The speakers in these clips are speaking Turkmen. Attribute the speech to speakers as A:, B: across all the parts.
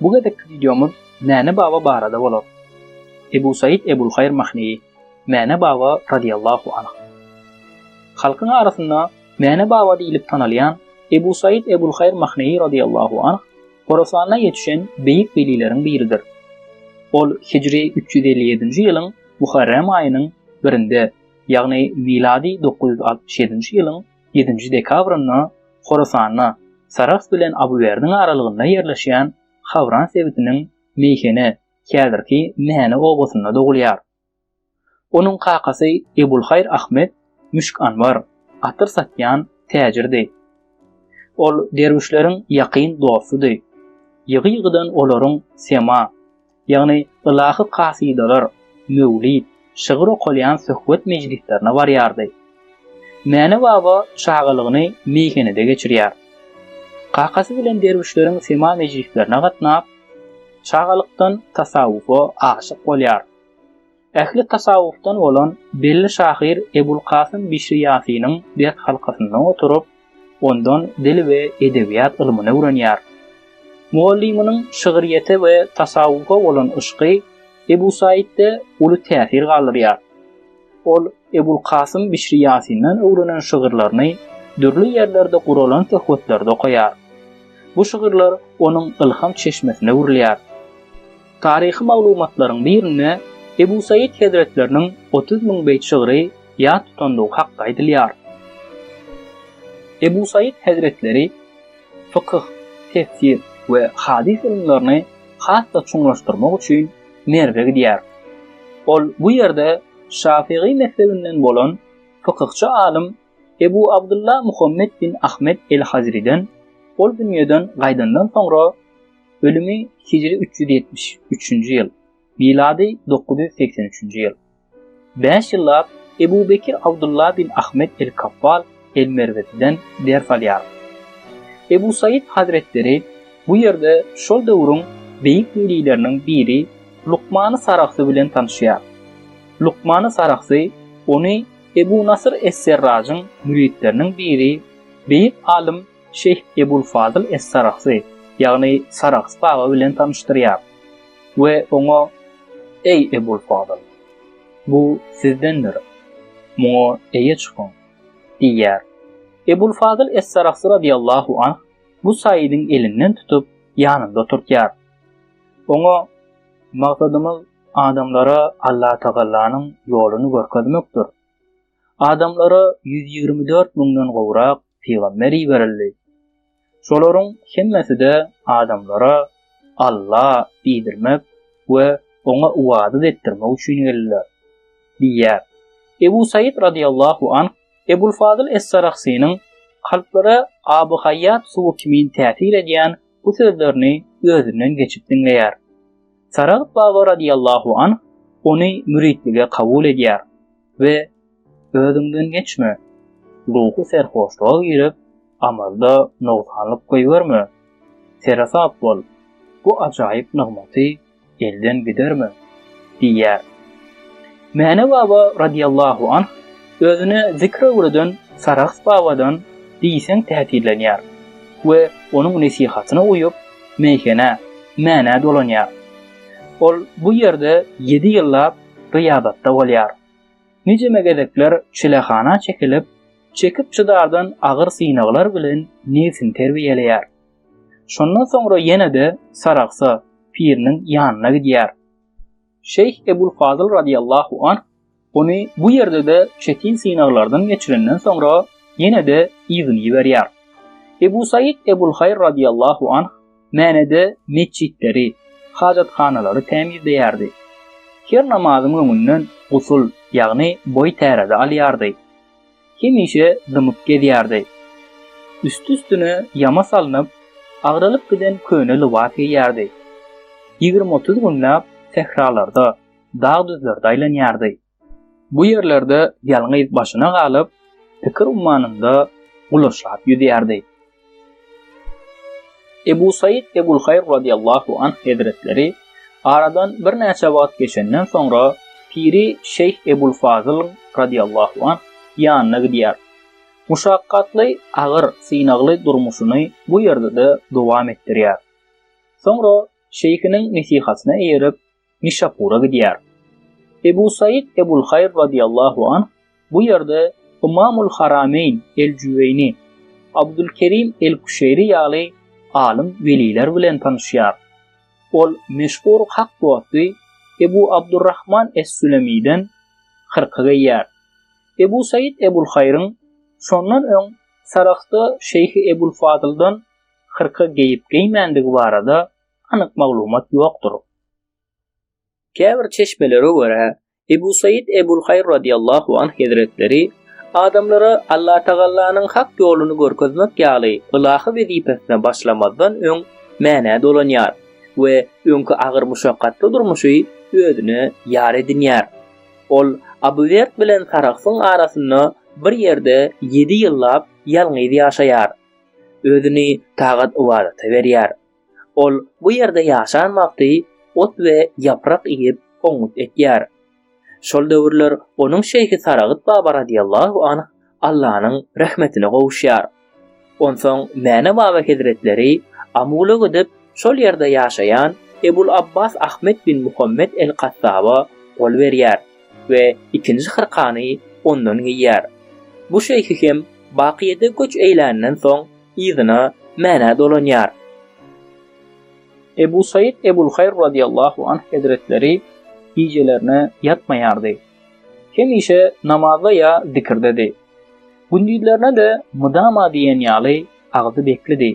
A: Bu gezekki wideomyz Mäne baba barada bolar. Ebu Said Ebulhaýr Mahneýi, Mäne baba radyýallahu anh. Halkyň arasynda Mäne baba diýlip tanalýan Ebu Said Ebulhaýr Mahneýi radyýallahu anh Horasanda ýetişen beýik welileriň biridir. Ol hijri üç ýüz elli ýedinji ýylyň Muharrem aýynyň birinde, ýagny milady dokuz ýüz altmyş ýedinji ýylyň ýedinji dekabrynda Horasanda, Sarahs bilen Abywerdiň aralygynda ýerleşýän Hawran sebitiniň Meýhene, häzirki Mäne obasynda dogulýar. Onuň kakasy Ebulhaýr Ahmet Müşk Anwar atyr satýan täjirdi. Ol derwüşleriň ýakyn dostudy. Ýygy-ýygydan olaryň sema, ýagny ylahy kasydalar, möwlid, şygyr okalýan söhbet mejlislerine barýardy. Mäne baba çagalygyny meýhenede geçirýär. Kakasy bilen derwüşleriň sema mejlislerine gatnap, çagalykdan tasawwufa aşyk bolýar. Ähli tasawwufdan bolan belli şahyr Ebul Kasym Bişri Ýasynyň ders halkasynda oturyp, ondan dil we edebiýat ylmyny öwrenýär. Mugallymynyň şygryýete we tasawwufa bolan yşky Ebu Saitde uly täsir galdyrýar. Ol Ebul Kasym Bişri Ýasyndan öwrenen şygyrlaryny dürli ýerlerde guralan söhbetlerde okaýar. Bu şygyrlar onuň ylham çeşmesine öwrülýär. Taryhy maglumatlaryň birinde Ebu Saýyt hezretleriniň otuz müň beýt şygry ýat tutandygy hakda aýdylýar. Ebu Saýyt hezretleri fykyh, tefsir we hadys ylymlaryny has-da çuňlaşdyrmak üçin Merwe gidýär. Ol bu ýerde şafygy mezhebinden bolan fykyhçy alym Ebu Abdylla Muhammet bin Ahmet el-Hazriden ol dünýeden gaýdandan soňra, Ölümi hijri üç ýüz ýetmiş üçünji ýyl, milady dokuz ýüz segsen üçünji ýyl. Bäş ýyllap Ebu Bekir Abdulla bin Ahmet el-Kaffal el-Merweziden ders alýar. Ebu Saýyt hazretleri bu ýerde şol döwrüň beýik welileriniň biri Lukmany Saragsy bilen tanyşýar. Lukmany Saragsy ony Ebu Nasyr es-Serrajyň müritleriniň biri, beýik alym Şeýh Ebul Fazyl Es-Saragsy, ýagny Sarags baba bilen tanyşdyrýar we oňa, Eý, Ebul Fazyl! Bu sizdendir. Muňa eýe çykyň! diýýär. Ebul Fazyl Es-Saragsy radyýallahu anh bu saýydyň elinden tutup, ýanynda oturtýar. Oňa, Maksadymyz adamlara Allatagallanyň ýoluny görkezmekdir. Adamlara ýüz ýigrimi dört müňden gowrak pygamber iberildi. Şolaryň hemmesi-de adamlara Alla diýdirmek we Oňa ybadat etdirmek üçin geldiler. Diýýär. Ebu Saýyt radyllahu anh Ebul Fazyl Es-Sarahsynyň kalplara aby haýýat suwy kimin täsir edýän bu sözlerini özünden geçip diňleýär. Saragt baba radyllahu anh ony müritlige kabul edýär. we özüňden geçme. Ruhy serhoşluga girip, amalda nogsanlyk goýberme. Seresap bol, bu ajaýyp nygmaty elden giderme diýýär. Mäne baba radiýallahu anh özüne zikr öwreden Sarahs babadan diýseň täsirlenýär we onuň nesihatyna uýup, meýhene, Mänä dolanýar. Ol bu ýerde ýedi ýyllap gyýabatda bolýar. Nijeme gezekler çilehana çekilip, çekip-çydardan agyr synaglar bilen nebsini terbiýeleýär. Şondan soňra ýene-de Saragsa piriniň ýanyna gidýär. Şeýh Ebul Fazyl radyýallahu anh ony bu ýerde-de çetin synaglardan geçirenden soňra ýene-de yzyny iberýär. Ebu Saýyt Ebul Haýr radyýallahu anh Mänede metjitleri, hajathanalary tämizleýärdi. Her namazyň öňünden gusul, ýagny boý täräde alýardy. Hemişe dymyp gezýärdi. Üsti-üstüne ýama salnyp, agralyp giden köne lybas geýýärdi. Ýigrimi-otuz günläp sähralarda, dag-düzlerde aýlanýardy. Bu ýerlerde ýalňyz başyna galyp, pikir ummanynda gulaşlap ýüzýärdi. Ebu Said Ebulhaýr radiyallahu anh hezretleri aradan birnäçe wagt geçenden soňra piri Şeýh Ebul Fazyl radiyallahu anh ýanyna gidýär. Muşakgatly, agyr, synagly durmuşyny bu ýerde-de dowam etdirýär. Soňra şeýhiniň nesihatyna eýerip, Nişapura gidýär. Ebu Said Ebul Haýr radiyallahu anh bu ýerde Ymamul Harameýn El-Jüweýni, Abdulkerim El-Küşeýri ýaly alym weliler bilen tanyşýar. Ol meşhur hak dosty Ebu Abdurrahman Es-Sülemiden hyrka geýýär. Ebu Said Ebul Haýryň şondan öň Sarahsda Şeýhi Ebul Fadyldan hyrka geýip-geýmändigi barada anyk maglumat ýokdur. Käbir çeşmelere görä, Ebu Saýid Ebul Haýr radiýallahu anh hezretleri adamlara Allatagallanyň hak ýoluny görkezmek ýaly ylahy wezipesine başlamazdan öň Mänä dolanýar we öňki agyr muşakgatly durmuşy özüne ýar edinýär. Ol Abu Werd bilen Sarahsyň arasynda bir ýerde ýedi ýyllap ýalňyz ýaşaýar. Özüni tagat-ybadata berýär. Ol bu ýerde ýaşan wagty ot we ýaprak iýip, oňňut ekýär. Şol döwürler onuň şeýhi Saragyt baba radiyallahu anh Allanyň rehmetine gowuşýar. Onsoň Mäne baba hezretleri Amula gidip, şol ýerde ýaşaýan Ebul Abbas Ahmet bin Muhammet el Kattaba gol berýär we ikinji hyrkany ondan geýýär. Bu şeýhi hem Bakyýede göç eýländen soň, yzyna Mänä dolanýar. Ebu Said Ebulhaýr radyýallahu anh hezretleri gijelerine ýatmaýardy. Hemişe namazda ýa zikirdedi. Gündizlerine-de mydama diýen ýaly agzy beklidi.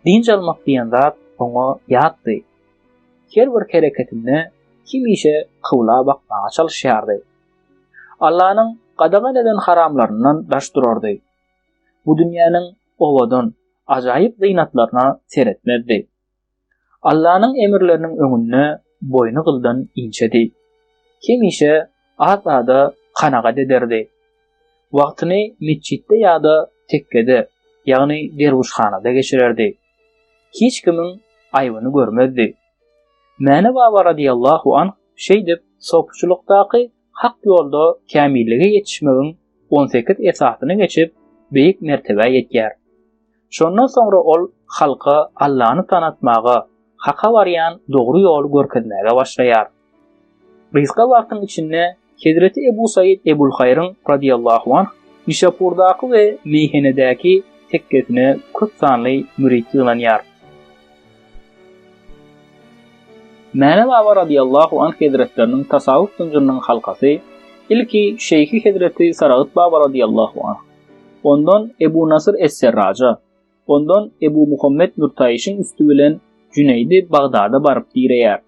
A: Dynç almak diýen zat oňa ýatdy. Her bir hereketinde hemişe kybla bakmaga çalyşýardy. Allanyň gadagan eden haramlaryndan daş durardy. bu dünýäniň owadan, ajaýyp zynatlaryna seretmezdi. Allanyň emirleriniň öňünde boýny gyldan inçedi. Hemişe az-aza kanagat ederdi. Wagtyny metjitde ýa-da tekkede, ýagny derwüşhanada geçirerdi. Hiç kimiň aýbyny görmezdi. Mäne baba radiyallahu anh şeýdip sopuçylykdaky Hak ýolda kämillige ýetişmegiň on sekiz esasyny geçip, beýik mertebä ýetýär. Şondan soňra ol halka Allany tanatmaga, Haka barýan dogry ýoly görkezmäge başlaýar. Gysga wagtyň içinde hezreti Ebu Saýyt Ebulhaýryň, radiýallahu anh, Nişapurdaky we Meýhenedäki tekgesine köp sanly mürit ýygnanýar. Mäne baba radyýallahu anh hezretleriniň tasawuf zynjyrynyň halkasy, ilki şeýhi hezreti Saragyt baba radyýallahu anh, ondan Ebu Nasyr es-Serraja, ondan Ebu Muhammet Nurtaýyşyň üsti bilen Jüneýdi Bagdada baryp direýär.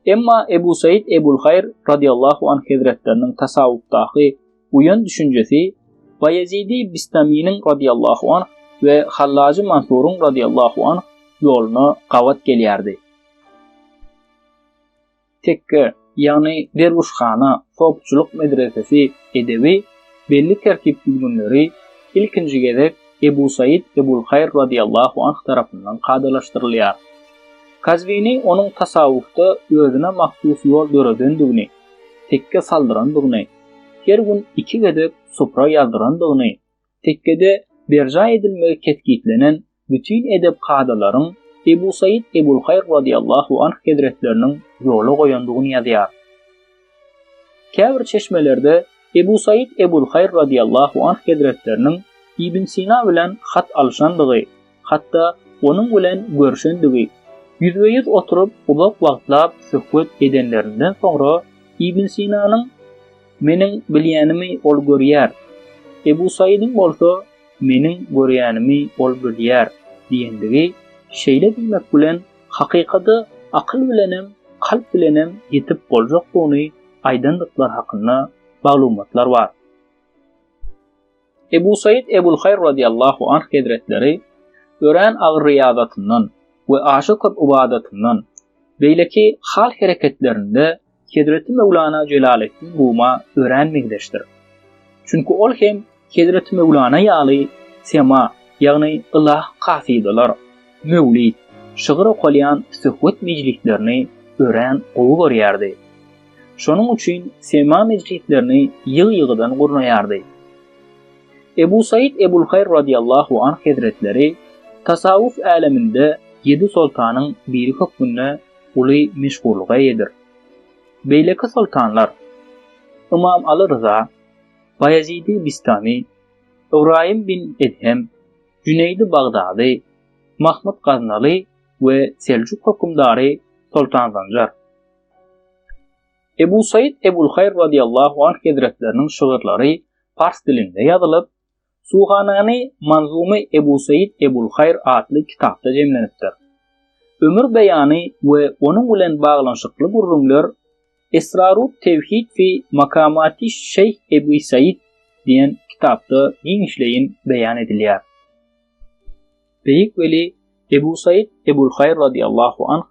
A: Emma Ebu Saýyt Ebul Haýr radyýallahu anh hezretleriniň tasawufdaky Buýan düşünjesi Baýezidi Bistaminiň radiyallahu anh we Hallajy Mansuryň radiyallahu anh ýoluna gabat gelýärdi. Tekke, ýagny derwüşhana, sopçylyk medresesi edebi belli tertip-düzgünleri ilkinji gezek Ebu Said Ebul Haýr radiyallahu anh tarapyndan kadalaşdyrylýar. Kazwini onuň tasawwufda özüne mahsus ýol döredendigini, tekke saldyrandygyny, her gün iki gezek supra ýazdyrandygyny, tekgede berjaý edilmegi kesgitlenen bütin edep kadalaryň Ebu Saýid Ebulhaýr radyýallahu anh hezretleriniň ýola goýandygyny ýazýar. Käbir çeşmelerde Ebu Saýid Ebulhaýr radyýallahu anh hezretleriniň Ibn Sina bilen hat alyşandygy, hatda onuň bilen görşendigi, ýüzbe-ýüz oturyp uzak wagtlap söhbet edenlerinden soňra Ibn Sinanyň, Meniň bilýänimi ol görýär, Ebu Saýydyň bolsa, Meniň görýänimi ol bilýär diýendigi şeýle diýmek bilen hakykata akyl bilenem, kalp bilenem ýetip boljakdygyny aýdandyklary hakynda maglumatlar bar. Ebu Said Ebulhaýr radiyallahu anh hezretleri örän agyr ryýazatyndan we aşa köp ybadatyndan, beýleki hal-hereketlerinde Hezreti Möwlana Jelaleddin Ruma örän meňzeşdir. Çünki ol hem Hezreti Möwlana ýaly sema, ýagny ylah kasydalar, möwlid, şygyr okalýan söhbet mejlislerini örän gowy görýärdi. Şonuň üçin sema mejlislerini ýygy-ýygydan gurnaýardy. Ebu Said Ebulhaýr radiýallahu anh hezretleri tasawwuf äleminde ýedi soltanyň biri hökmünde uly meşhurlyga eýedir. Beýleki soltanlar, Ymam Aly Ryza, Baýezidi Bistami, Ybraýym bin Edhem, Jüneýdi Bagdady, Mahmyt Gaznaly we Seljuk hökümdary Soltan Zanjar. Ebu Said Ebul Hayr radiyallahu anh hezretleriniň şygyrlary pars dilinde ýazylyp, Suhanany Manzumy Ebu Said Ebul Hayr atly kitapda jemlenipdir. Ömür beýany we onuň bilen baglanyşykly gürrüňler Esrarut tevhid fi makamati Şeyh Ebu Said diýen kitapda giňişleýin beýan edilýär. Beýik weli Ebu Said Ebul Hayr radiyallahu anh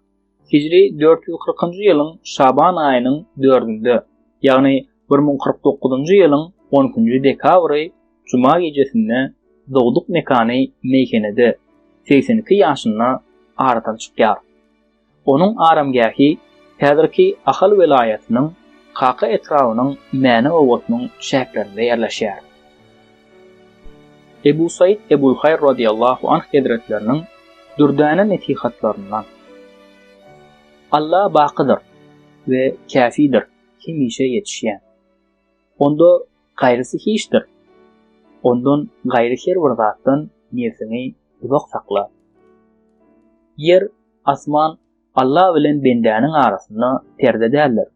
A: Hijri dört ýüz kyrkynjy ýylyň Şaban aýynyň dördünde, ýagny bir müň kyrk dokuzynjy ýylyň on ikinji dekabry juma gijesinde dogduk mekany meýhenede segsen iki ýaşynda aradan çykýar. Onuň aramgähi häzirki Ahal welaýatynyň Kaka etrabynyň Mäne obasynyň çäklerinde ýerleşýär. Ebu Saýyt Ebulhaýr razyýallahu anh hezretleriniň dürdäne nesihatlaryndan, Alla bakydyr we käfidir, hemişe ýetişýän. Onda gaýrysy hiçdir. Ondan gaýry her bir zatdan nebsiňi uzak sakla. Ýer, asman Alla bilen bendäniň arasynda perde däldir.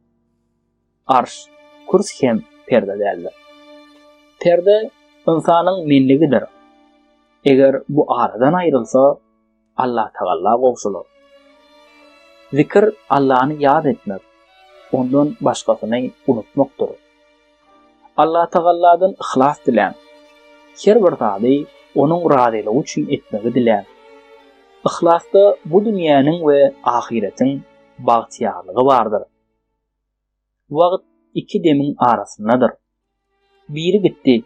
A: arş, kürs hem perde däldir. Perde ynsanyň menligidir. Eger bu aradan aýrylsa, Allatagalla gowşalar. Zikir Allany ýat etmek, ondan başgasyny unutmakdyr. Allatagalladan yhlas diläň. Her bir zady onuň razylygy üçin etmegi diläň. Yhlasda bu dünýäniň we ahyretiň bagtyýarlygy bardyr. Wagt iki demiň arasyndadyr. Biri gitdi,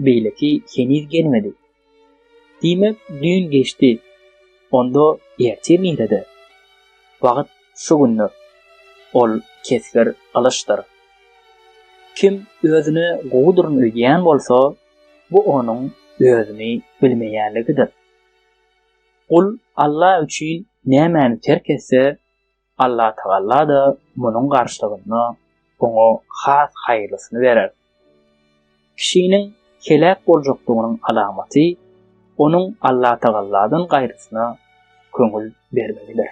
A: beýleki heniz gelmedi. Diýmek, düýn geçdi, onda ertir nirede? Wagt şu gündir. Ol kesgir gylyçdyr. Kim özüne gowudyryn öýdýän bolsa, bu onuň özüni bilmeýänligidir. Gul Alla üçin nämäni terk etse, Allatagalla-da munuň garşylygynda oňa has haýyrlysyny berer. Kişiniň heläk boljakdygynyň alamaty onuň Allatagalladan gaýrysyna köňül bermegidir.